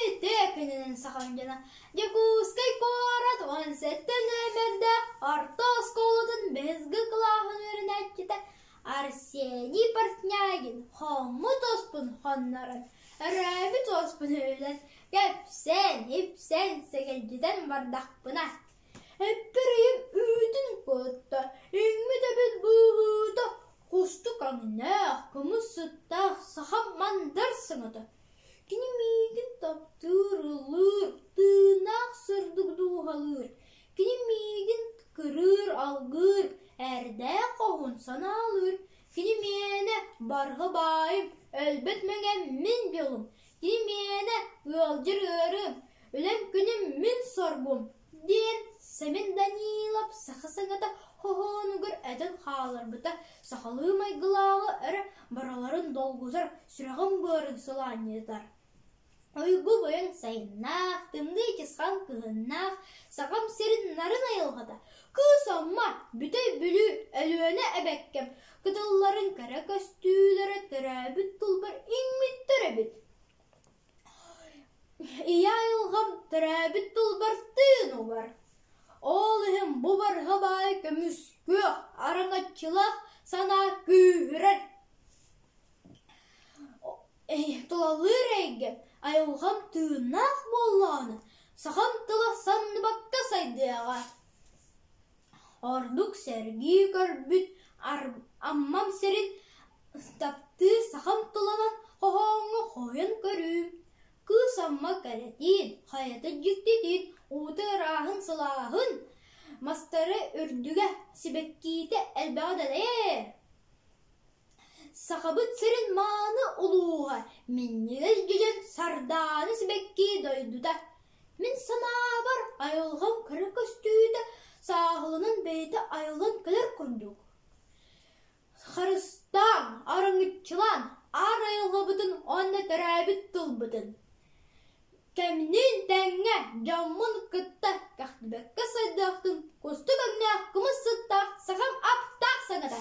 Ити күнүнэн саҕалаан дьоно Дьокуускай куорат уон сэттэ нүөмэрдэ орто оскуолатын бэһисги кылааһын үөрэнээччитэ Арсений Портнягин хоммут успун хоннорон, өрөөбүт успун өлөн, кэпсэн, ипсэн, сэгэлдьитэн бардахпына, эппэрийим үүтүн кутта, үүммүт эбит быыһыыта, кустук өҥнөөх, кымыс сыттаах саха мандар сыҥата Кини миигин таптыыр, ыллыыр, тыыннаах сырдык дууһалыыр, кини миигин кырыыр, алгыыр, эрдээх хоһун санаалыыр, кини мээнэ барҕа баайым, өлбөт мэҥэм мин дьолум, кини мээнэ ыалдьар ыарыым, үлэм күнүм мин соргум диэн Сэмэн Данилов саха саҥата хоһоонугар этэн хааларбыта сахалыы майгылааҕы эрэ барыларын долгутар, сүрэҕин быарыдысылаанньытар. Ойгу бойон сайыннаах, тымныы чысхаан кыһыннаах сахам сирин нарын айылҕата, кыыс Амма, Бүтэй Бүлүү, Өлүөнэ эбэккэм кытылларын кэрэ көстүүлэрэ төрөөбүт тылбар иҥмиттэр эбит Ийэ айылҕам төрөөбүт тылбартыын убар, ол иһин бу барҕа баай көмүскүөх, араҥаччылаах санаа күүһүрэр. Тулалыыр эйгэм, айылҕам тыыннаах буоллаҕына, сахам тыла санныбакка сайдыаҕа Ордук сэргии көрбүт Аммам сирин таптыыр сахам тулалан хоһооҥҥо хоһуйан көрүү, кыыс Амма кэрэтиин, хайатын дьиктитиин, уута ырааһын сылааһын мастары үрдүгэ, сибэккиитэ элбэҕэ дэлэйэр Сахабыт сирин мааны улууһа минньигэс дьэдьэн сардаана сибэккии дойдута Мин санаабар, айылҕам кыра көстүүтэ сааһыланан бэйэтэ айыллан кэлэр курдук. Харыстаан, арыҥыччылаан, аар айылҕабытын уонна төрөөбүт тылбытын кэмниин тэҥҥэ дьоммун кытта кэхтибэккэ сайдыахтын кустук өҥнөөх кымыс сыттаах сахам аптаах саҥата